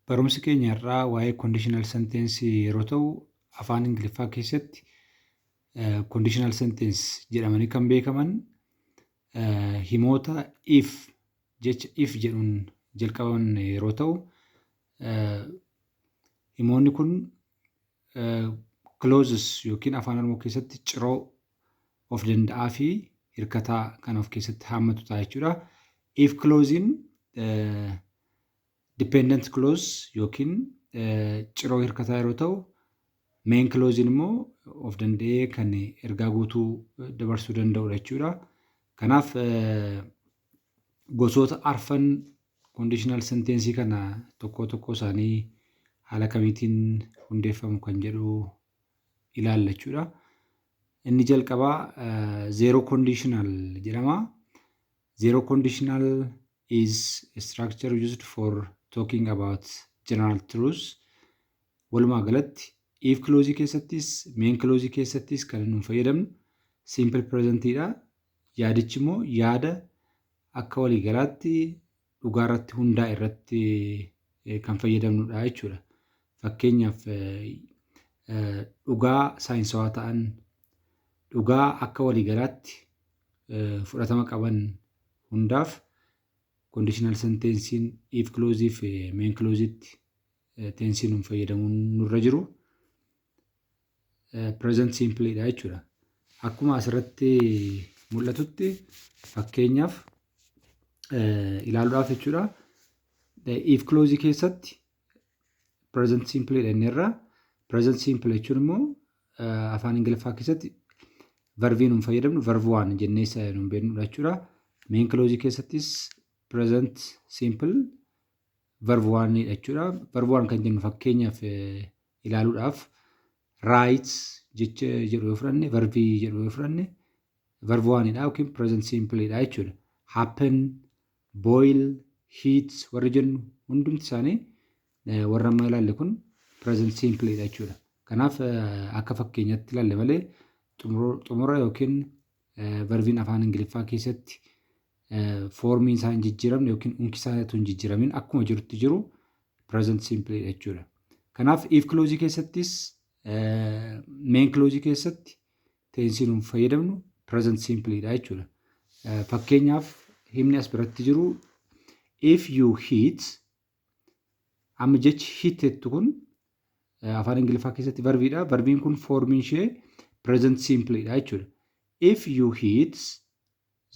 Barumsi keenya har'aa waa'ee conditional sentence yeroo ta'u afaan Ingiliffaa keessatti eh, conditional sentence jedhamanii kan beekaman eh, himoota if jecha if jedhuun jalqabaman yeroo ta'u eh, himoonni kun Closes yookiin afaan oromoo keessatti ciroo of danda'aa fi hirkataa kan of keessatti haammatu ta'a jechuudha. If close'n dependent close yookiin ciroo hirkataa yeroo ta'u main close'n immoo of danda'ee kan ergaa guutuu dabarsuu danda'udha jechuudha. Kanaaf gosoota arfan conditional sentence kana tokkoo tokkoo isaanii haala kamiitiin hundeeffamu kan jedhu ilaalla jechuudha. Inni jalqabaa zero conditional jedhama. Zero conditional is a structure used for talking about general truths. Walumaa galatti if clause keessattis main clause keessattis kan nu fayyadamnu simple present dha. Yaadichi immoo yaada akka waliigalaatti dhugaa irratti hundaa'e irratti kan fayyadamnudha jechuudha. Fakkeenyaaf dhugaa saayinsawaa ta'an, dhugaa akka waliigalaatti fudhatama qaban hundaaf kondiishinaal senteensiin if kiloozii fi meen kilooziitti teensiin fayyadamuun nurra jiru. present simple dha jechuudha. Akkuma asirratti mul'atutti fakkeenyaaf ilaaluudhaaf jechuudha. If close keessatti present simple dha inni irraa present simple jechuun immoo afaan ingiliffaa keessatti verbii nuun fayyadamnu verb waan jennee isa nuun beeknudha jechuudha. Main close keessattis present simple verb waan jechuudha. Verb waan kan jennu fakkeenyaaf ilaaluudhaaf writes jecha jedhu yoo fudhanne verbii jedhu yoo fudhanne verb one dha yookiin present simple dha jechuudha. Happen, boil, heat warri jennu hundumti isaanii eh, warra amma ilaalle kun present simple dha jechuudha. Kanaaf eh, akka fakkeenyaatti ilaalle malee xumura- xumura yookiin Verbiin afaan Ingiliffaa keessatti foormiin isaa hin jijjiiramne yookiin unki isaa utuu hin jijjiiramin akkuma jirutti jiru present simple dha jechuudha. Kanaaf if close keessattis main close keessatti teensiin nuuf fayyadamnu present simple dha jechuudha. Fakkeenyaaf himni as biratti jiru if you hit Amma jechi hit jettu kun afaan Ingiliffaa keessatti varbiidha. Varbiin kun foormiin ishee present simple dha jechuudha. If you heat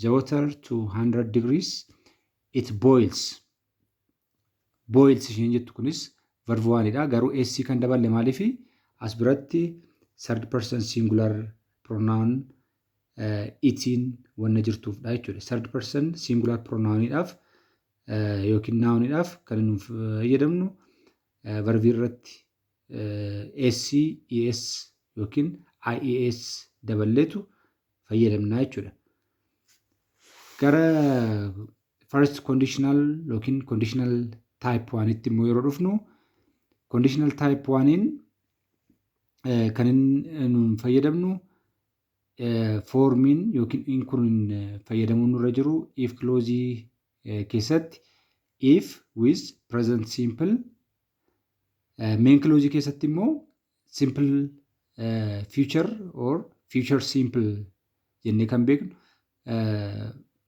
the water to 100 degrees it boils. Boils isheen jettu kunis verb waanidha. Garuu s kan daballe maaliif as biratti third person singular pronoun itiin wanna jirtuufdha jechuudha. Third person singular pronounidhaaf yookiin noun dhaaf kan nuuf fayyadamnu verb irratti s, es yookiin ies daballeetu fayyadamna jechuudha. Gara first conditional yookiin conditional type 1 tti immoo yeroo dhufnu conditional type 1 in kan nuun fayyadamnu foormiin yookiin in kun fayyadamuun nurra jiru if kiloozii keessatti if with present simple meen kiloozii keessatti immoo simple future or future simple jennee kan beeknu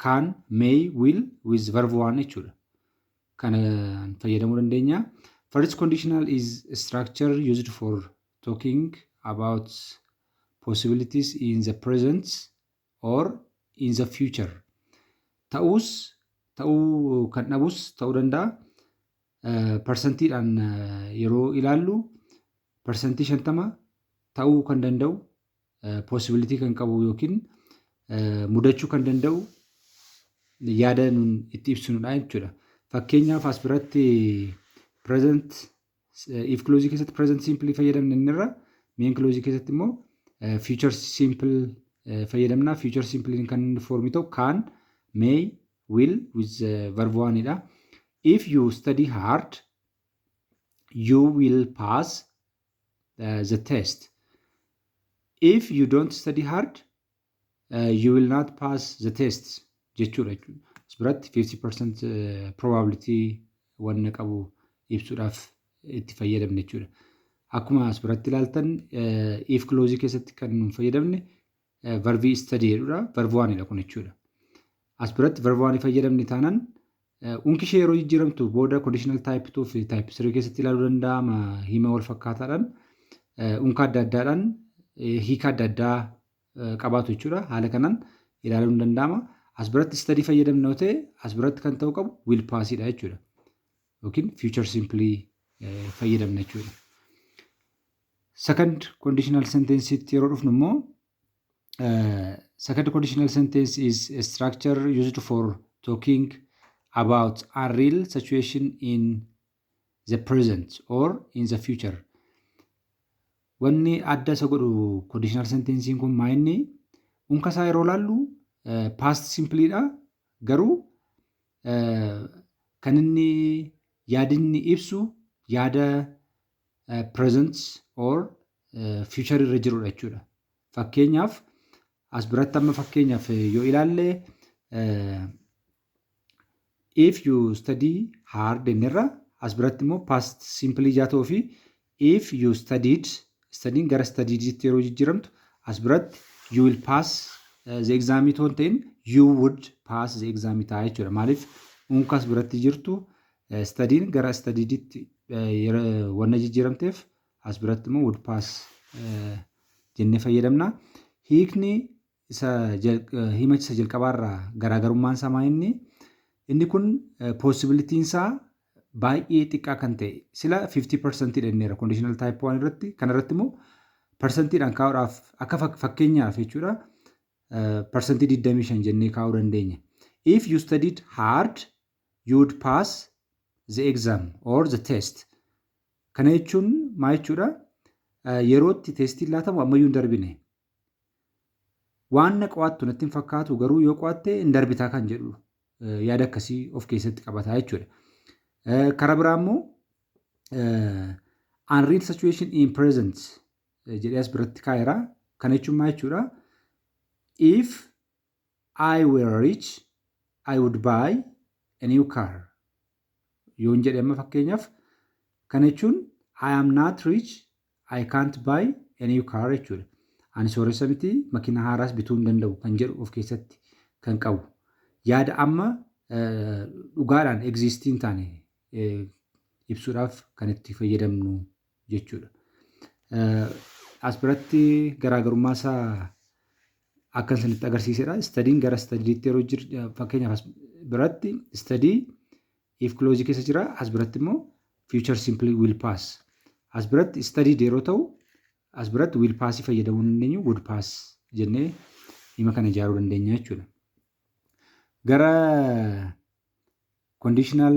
kaan may will with verb waan jechuudha. Kana fayyadamuu dandeenya. First conditional is structure used for Talking about possibilities in the present or in the future. Ta'uus ta'uu kan dhabus ta'uu danda'a. Eh, Parsantiidhaan eh, yeroo ilaallu parsantii shantama ta'uu kan danda'u eh, possibility kan qabu yookiin eh, mudachuu kan danda'u yaada nun itti ibsinudha jechuudha. Fakkeenyaaf as biratti present If kiloozii keessatti present simple fayyadamne inni irra main kiloozii keessatti immoo future simple fayyadamna. Future simple kan inni foormii ta'u can, may, will with verb one dha. If you study hard you will pass the test. If you don't study hard you will not pass the tests jechuudha jechuudha. As biratti 50% probability wanna qabu ibsuudhaaf itti fayyadamne jechuudha. Akkuma as biratti ilaaltan if close keessatti kan nun fayyadamne verbii study jedhudha. Verb 1 dha kun jechuudha. As biratti verb 1 fayyadamne taanaan Unki ishee yeroo jijjiiramtu booda conditional type 2 fi type 3 keessatti ilaaluu danda'ama hima wal fakkaataadhaan unka adda addaadhaan hiika adda addaa qabaatu jechuudha. Haala kanaan ilaaluun ni danda'ama. As biratti study fayyadamna yoo ta'e as biratti kan ta'uu qabu will pass dha jechuudha. Yookiin future simply fayyadamna jechuudha. Second conditional sentence itti yeroo dhufnu immoo Uh, second conditional sentence is a structure used for talking about a real situation in the present or in the future. Wanni adda isa godhu conditional sentence'n kun maa inni unka isaa yeroo laallu uh, past simply dha garuu uh, kan inni yaadinni ibsu yaada present or future irra jirudha jechuudha. Fakkeenyaaf as biratti amma fakkeenyaaf yoo ilaalle if you study hard jennirra as biratti immoo past simple ijaa ta'uu fi if you studied studying gara studieditti yeroo jijjiiramtu as biratti you will pass the exam itoo hin ta'in you would pass the exam ta'a jechuudha. Maaliif unka as biratti jirtu Study'n gara studied'tti wanna jijjiiramteef as biratti immoo would pass jennee fayyadamna. Hiikni isa himacha isa jalqabaarraa garaagarummaan isaa maa inni? Inni kun possibility'n isaa baay'ee xiqqaa kan ta'e sila 50% dha jenneera conditional type 1 irratti kana irratti immoo persentiidhaan kaa'uudhaaf akka fakkeenyaaf jechuudha persentii 25 jennee kaa'uu dandeenya. If you studied hard you'd pass the exam or the test. Kana jechuun maa jechuudha? Yerootti teestiin laatamu ammayyuu hin darbine. Waan na qo'attu natti hin fakkaatu garuu yoo qo'atte hin darbitaa kan jedhu yaada akkasii of keessatti qabataa jechuudha. Kara biraa immoo unreal situation in present jedhee as biratti kaa'eera. Kana jechuun maa jechuudha? If I were rich, I would buy a new car. Yoon jedhe amma fakkeenyaaf kana jechuun I am not rich, I can't buy a new car jechuudha. Ani sooressa miti makiina haaraas bituu hin danda'u kan jedhu of keessatti kan qabu. Yaada amma dhugaadhaan egziistii hin taane ibsuudhaaf kan itti fayyadamnu jechuudha. As biratti garaagarummaa isaa akka isinitti agarsiisedha. Istadiin gara istadiitti yeroo jiru fakkeenyaaf as biratti istadii if kiloozii keessa jira. As biratti immoo future simple will pass. As biratti istadii yeroo ta'u as biratti will pass fayyadamuu dandeenyu would pass jennee hima kana ijaaruu dandeenya jechuudha. Gara conditional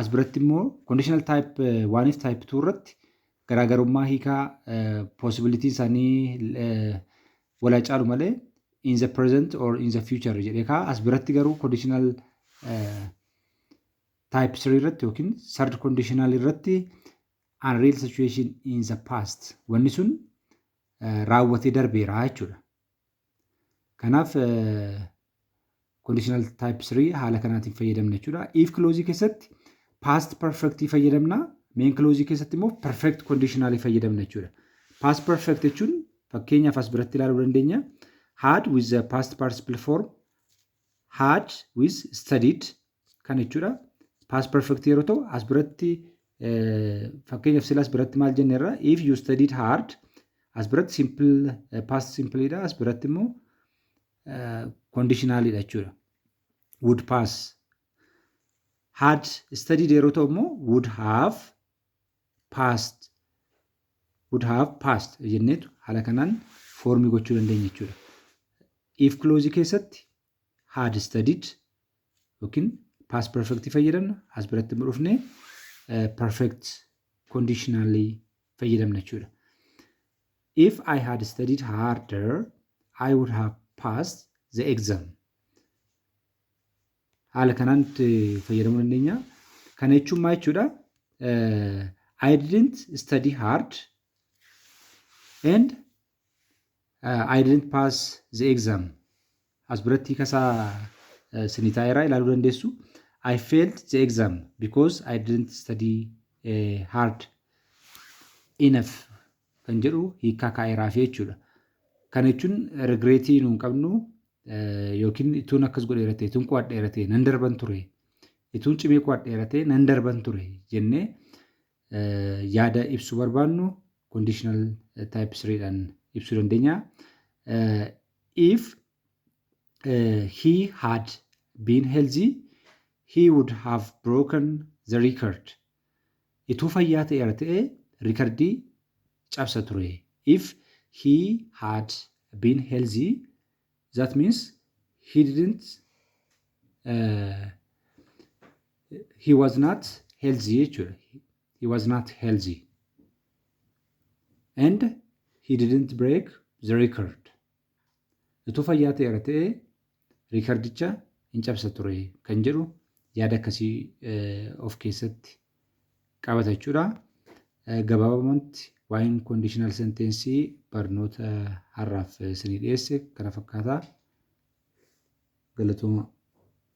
As biratti immoo conditional type 1 fi type 2 irratti garaagarummaa hiikaa possibility isaanii wal haa caalu malee in the present or in the future jedhee kaa as biratti garuu conditional type 3 irratti yookiin third conditional irratti unreal situation in the past wanni sun raawwatee darbeera jechuudha. Kanaaf conditional type 3 haala kanaatiin fayyadamna jechuudha. If clause keessatti past perfect fayyadamna, main clause keessatti immoo perfect conditional fayyadamna jechuudha. Past perfect jechuun fakkeenyaaf as biratti ilaaluu dandeenya. Had with the past participle form had with studied Kan jechuudha. Past perfect yeroo ta'u as biratti fakkeenyaaf sila as biratti maal jenne irraa if you studied hard as biratti simple past simple dha as biratti immoo conditional dha jechuudha. Would pass had studied yeroo ta'u immoo would have passed would have passed jenneetu haala kanaan foormii gochuu dandeenya jechuudha. If close keessatti had studied yookiin past perfect fayyadamna as biratti immoo dhufnee eh, perfect conditionally fayyadamna jechuudha. If I had studied harder, I would have passed the exam. Haala kanaan itti fayyadamuu dandeenya. Kana jechuun maal jechuudha? Eh, I didn't study hard and I didn't pass the exam. As biratti kasaa isinii taa'eeraa ilaaluu dandeessu. I failed the exam because I didn't study eh, hard enough kan jedhu hiikaa kaa'eeraa fi jechuudha. Kana jechuun regreetii nuun qabnu eh, yookiin ituun akkas godhe irratti ituun qo'adhe irratti nan darban ture ituun cimee qo'adhe irratti nan darban ture jennee yaada ibsu barbaannu conditional type 3 dhaan ibsuu dandeenya. If he had been healthy, he would have broken the record. Ituu fayyaa ta'eera ta'e rikardii cabsa ture. If he had been healthy, That means he didn't uh, he was not healthy jechuudha. He was not healthy. And he didn't break the record. Utuu fayyaa ta'eera ta'ee riikardicha hin cabsa ture kan jedhu yaada akkasii eh, of keessatti qabata jechuudha. Gabaabumatti waa'een kondiishinaal senteensii barnoota har'aaf isinii dhiyeesse kana fakkaata. Galatooma.